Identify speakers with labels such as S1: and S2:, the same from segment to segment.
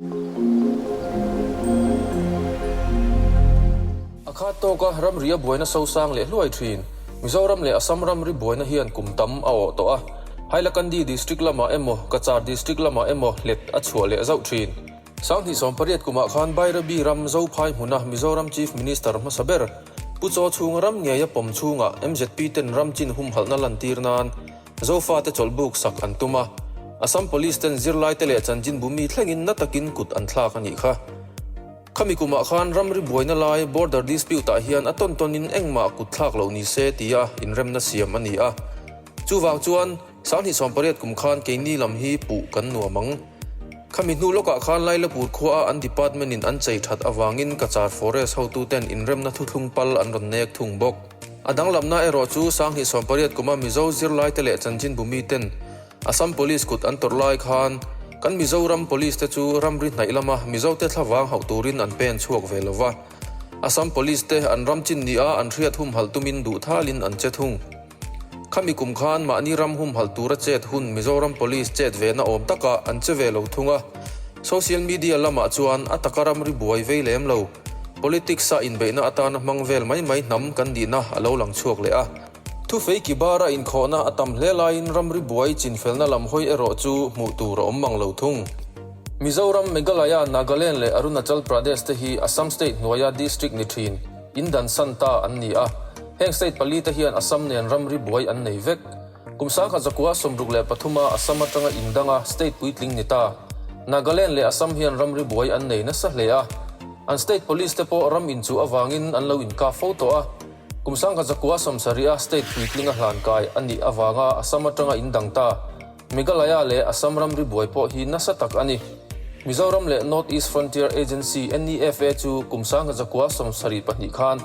S1: A khat tawk a, ramri a buaina sosang leh hluai thin. Mizoram leh Assam ramri buaina hian kum tam a awh tawh a. Hailakandi District lamah emaw, Kachar District lamah emaw hlet a chhuah leh zauh thin. Sang hnih sawm pariat kumah khan Bairabi ram Zophai hmuna Mizoram Chief Minister hmasa ber Pu Chaw Chhunga ram ngeia pawm chhungah mzp ten ram chin humhalhna lantir nan Zofate chawlhbuk sak an tum a, Assam Police ten zirlaite leh chanchinbu mi thlengin na takin kut an thlak a nih kha. Khami kumah khan ramri buaina lai border dispute ah hian a tawn tawnin engmah kut thlak lo ni se tia inremna siam a ni a. Chuvang chuan Sanghnih sawmpariat kum khan keini lam hi puh kan nuam ang. Khami hnu lawkah khan Lailapur khua a an department in an chei that avangin Kachar forest hotu ten inremna thuthlung pal an rawn nek thung bawk. A danglamna erawh chu Sanghnih sawmpariat kuma Mizo zirlaite leh chanchinbu miten Assam Police kut an tawrh lai khan kan Mizoram Police te chu ram ri hnaih lama Mizote thla vang hauh turin an pen chhuak ve lo va. Assam Police te an ram chin ni a an hriat humhalh tumin duhthalin an che thung. Khami kum khan mahni ram humhalh tura chet hun Mizoram Police chet vena awm takah an che ve lo thung a. Social media lamah chuan a taka ram ri buai vei lem lo. Politics-a inbeihna atana hmang vel mai mai hnam kan nihna a lo lang chhuak leh a. Thufei ki bara inkhawhna a tam hle laiin ramri buai chinfelna lam hawi erawh chu hmuh tur a awm mang lo thung. Mizoram, Meghalaya, Nagaland leh Arunachal Pradesh te hi Assam state hnuaia district ni thin in dansan ta an ni a. Heng state pali te hian Assam nen ramri buai an nei vek. Kum sangha zakua sawmruk leh pathuma Assam atanga indang a state puitling ni ta. Nagaland leh Assam hian ram ri buai an nei nasa hle a. An state police te pawh ram inchuh avangin an lo inkap fo tawh a. Kum sangha zakua sawmsarihah state puitlinga hlan kai a nih avanga Assam atanga indang ta. Meghalaya leh Assam ram ri buai pawh hi nasa tak a ni. Mizoram leh North East Frontier Agency, NEFA, chu kum sangha zakua sawmsarih pahnih khan,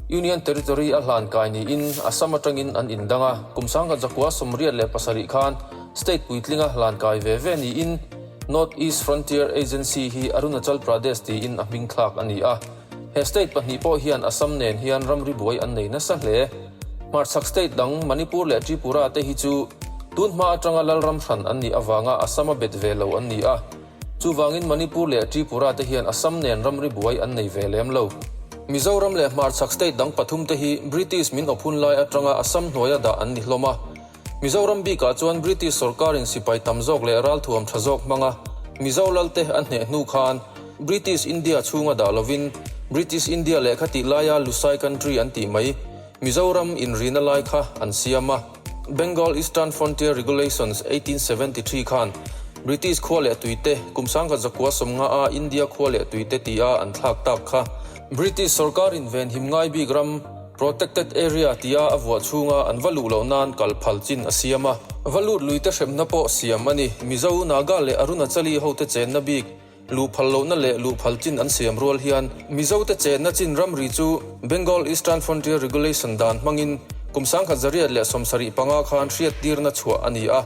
S1: Union Territory a hlan kai niin Assam atangin an indang a, kum sangha Jakua sawmriat leh pasarih khan state puitlinga hlan kai ve ve niin North East Frontier Agency hi Arunachal Pradesh tiin a hming thlak a ni a. He state pahnih pawh hian Assam nen hian ramri buai an nei nasa hle. Hmarchhak state dang Manipur leh Tripura te hi chu tunhma atanga Lalram hran an nih avanga Assam a bet ve lo an ni a. Chuvangin Manipur leh Tripura te hian Assam nen ramri buai an nei ve lem lo. Mizoram leh Hmarchhak state dang pathum te hi British min awp hun lai atanga Assam hnuaia dah an ni hlawm a. Mizoram bikah chuan British sawrkarin sipai tam zawk leh ralthuam tha zawk hmanga Mizo lal te an hneh hnu khan British India chhunga dah lovin British India lehkha tih laia Lusai country an tih mai Mizoram inrina lai kha an siam a. Bengal Eastern Frontier Regulations, eighteen seventy three, khan British khua leh tuite, kum sangkhat zakua sawmnga a India khua leh tuite tia an thlak tak kha. British sawrkarin venhim ngai bik ram, protected area, tia a vuah chhunga an va luh loh nan kal phal chin a siam a. Va lut luite hrepna pawh siam a ni. Mizo, Naga leh Arunachali hote chenna bik. Luhphal lohna leh luhphal chin an siam rual hian Mizote chenna chin ramri chu Bengal Eastern Frontier Regulation dan hmangin kum sangkhat zariat leh sawmsarih panga khan hriattirna chhuah a ni a.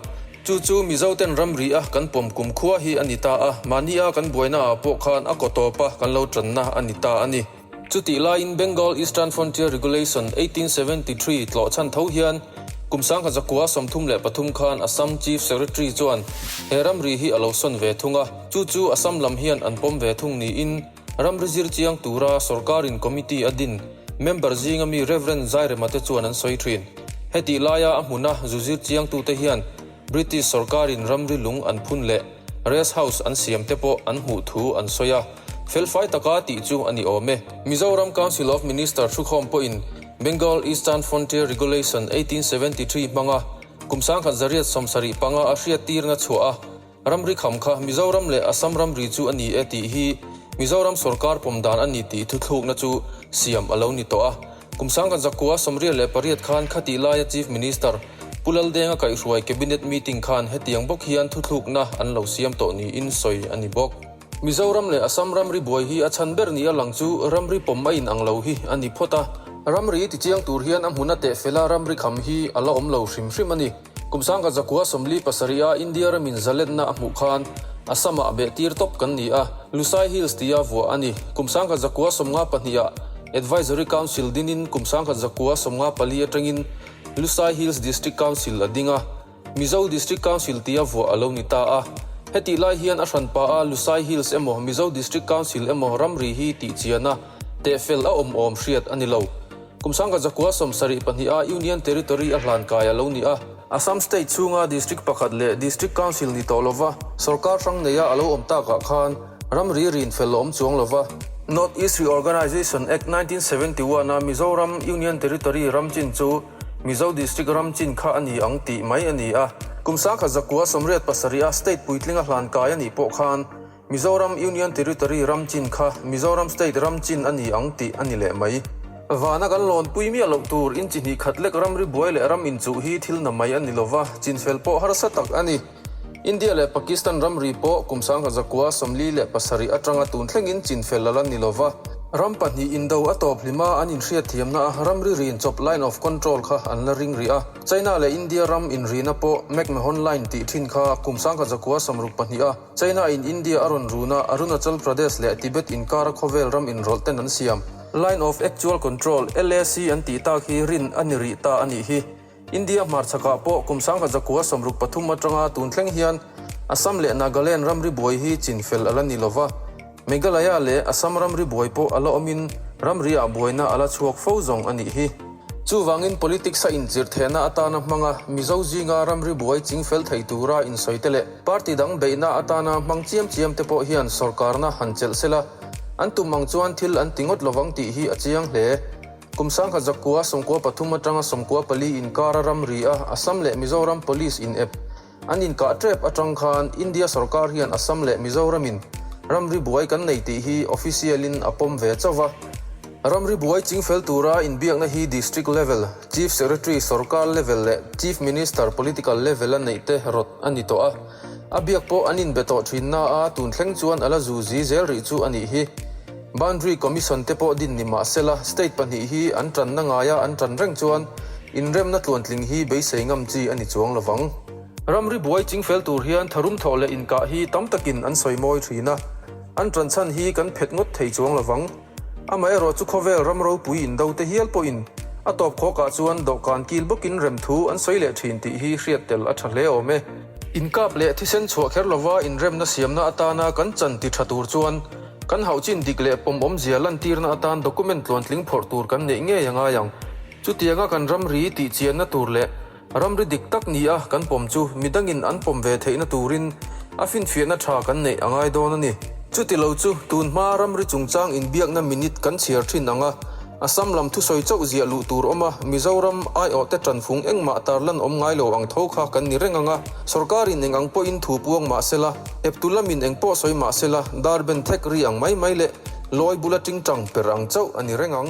S1: Chu chu Mizoten ramri a kan pawm kum khua hi a ni ta a, mahni a kan buaina ah pawh khan a kaw tawpa kan lo tanna a ni ta a ni. Chutih laiin Bengal Eastern Frontier Regulation eighteen seventy three tlawh chhan tho hian kum sangha zakua sawmthum leh pathum khan Assam Chief Secretary chuan he ramri hi a lo sawn ve thung a, chu chu Assam lam hian an pawm ve thung niin ramri zir chiang tura sorkarin committee a din member zinga mi Rev. Zairema te chuan an sawi thin. Hetih laia a hmuna zu zir chiangtute hian. British sorkarin ramri lung an phun leh rest house an siam te pawh an hmuh thu an sawi a, felfai taka tih chu a ni awm e. Mizoram Council of Minister thukhawm pawhin Bengal Eastern Frontier Regulation eighteen seventy three hmanga kum sangkhat zariat sawm sarih panga a hriattirna chhuah a, ramri kham kha Mizoram leh Assam ramri chu a ni e tih hi Mizoram sorkar pawm dan a ni tih thuthlukna chu siam a lo ni tawh a. Kum sang kan zak kua sawmriat leh pariat khan khatih laia Chief Minister, Pu Laldenga kaihhruai Cabinet meeting khan hetiang bawk hian thuthlukna an lo siam tawh niin sawi a ni bawk. Mizoram leh Assam ramri buai hi a chhan ber nih a lang chu ramri pawm a inang lo hi a ni phawt a. Ramri tichiang tur hian a hmun a tehfela ramri kham hi a la awm lo hrim hrim a ni. Kum sangka zakhua sawmli pasarih a India ramin zaletna a hmuh khan Assam-ah beh tir tawp kan ni a, Lusai Hills tia vuah a ni. Kum sangka zakhua sawmnga pahnih-ah Advisory Council dingin kum sangka zakhua sawmnga pali atangin Lusai Hills District Council a ding a, Mizo District Council tia vuah a lo ni ta a. Hetih lai hian a hran pa a Lusai Hills emaw Mizo District Council emaw ramri hi tihchiana tehfel a awm awm hriat a ni lo. Kum sangka zakua sawm sarih pahnih a Union Territory a hlan kai a lo ni a. Assam State chhunga District pakhat leh District Council ni tawh lova sawrkar hrang neia a lo awm tak ah khan ramri rin fel a awm chuang lova. North-East Reorganisation Act nineteen seventy one a Mizoram Union Territory ram chin chu Mizo District ram chin kha a ni ang tih mai a ni a. Kum sangka zakua sawmriat pasarih a State puitling a hlan kai a nih pawh khan, Mizoram Union Territory ram chin kha Mizoram State ram chin a ni ang tih a ni leh mai. Vana kan lawnpui miah loh tur inchihnih khat lek ram ri buai leh ram inchuh hi thil na mai a ni lova, chin fel pawh harsa tak a ni. India leh Pakistan ram ri pawh kum sangha zakua sawmli leh pasarih atanga tun thlengin chin fel lal a ni lova, ram pahnih indo a tawp hlim a an inhriat thiamna a ram ri rin chawp line of control kha an la ring rih a. China leh India ram inrihna pawh McMahon Line tih thin kha kum sangha zakua sawmruk pahnih a, China in India a rawn run a, Arunachal Pradesh leh Tibet inkara khawvel ram inrawlh ten an siam. Line of Actual Control, LAC, an tih tak hi rin a ni rih ta a nih hi. India hmarchhakah pawh kum sangha zakua sawmruk pathum atanga tun thleng hian Assam leh Nagaland ramri buai hi chin fel a la ni lo va. Meghalaya leh Assam ramri buai pawh a la awmin ramriah buaina a la chhuak fo zawng a nih hi. Chuvangin politics a inchirhthehna atana hmanga Mizo zinga ramri buai chingfel thei tura insawite leh party dang beihna atana hmang chiam chiamte pawh hian sawrkarna han chelh sela an tum ang chuan thil an ti ngawt lovang tih hi a chiang hle. Kum sangha zakua sawmkua pathum atanga sawmkua pali inkara ramria Assam leh Mizoram police inep An inkah tep atang khan India sawrkar hian Assam leh Mizoramin ramri buai kan nei tih hi official in a pawm ve chauh a. Ramri buai ching fel tura inbiakna hi district level, chief secretary sawrkar level leh chief minister political level a neih te rawt a ni tawh a. A biak pawh an inbe tawh thinna a tun thleng chuan a la zu zi zel rih chu a nih hi. Boundary Commission te pawh din ni mah se la, state pahnih hi an tanna ngai a, an tan reng chuan inremna tluantling hi beisei ngam chi a ni chuang lo vang. Ramri buai ching fel tur hian tharum thawh leh inkah hi tam takin an sawi mawi thin a, an tan chhan hi kan phet ngawt thei chuang lo vang. Amaherawh chu khawvel ram ropui indo te hial pawhin a tawp khawkah chuan dawhkan kil bawkin rem thu an sawi leh thin tih hi hriat tel a tha hle awm e. Inkap leh thisen chhuah kher lova inremna siamna atana kan chan ti tha tur chuan Kan hauh chin dik leh pawm awmzia lantirna atan document tluantling phawrh tur kan neih ngei a ngai ang. Chutianga kan ramri tih chianna tur leh ramri dik tak ni a kan pawm chu midangin an pawm ve theihna turin a finfiahna tha kan neih a ngai dawn a ni. Chuti lo chu tun hma ramri chungchang inbiakna minute kan chhiar thin ang a, a sam lam thusawi chauh ziah luh tur awm a, Mizoram ai awh te tanfung engmah tarlan awm ngai lo ang tho kha kan ni reng ang a, sorkarin eng ang pawhin thu puang mah sela, Ep tu lam in eng pawh sawi mah se la, dar ben thek ri ang mai mai leh lawi bula tingtang per ang chauh a ni reng ang.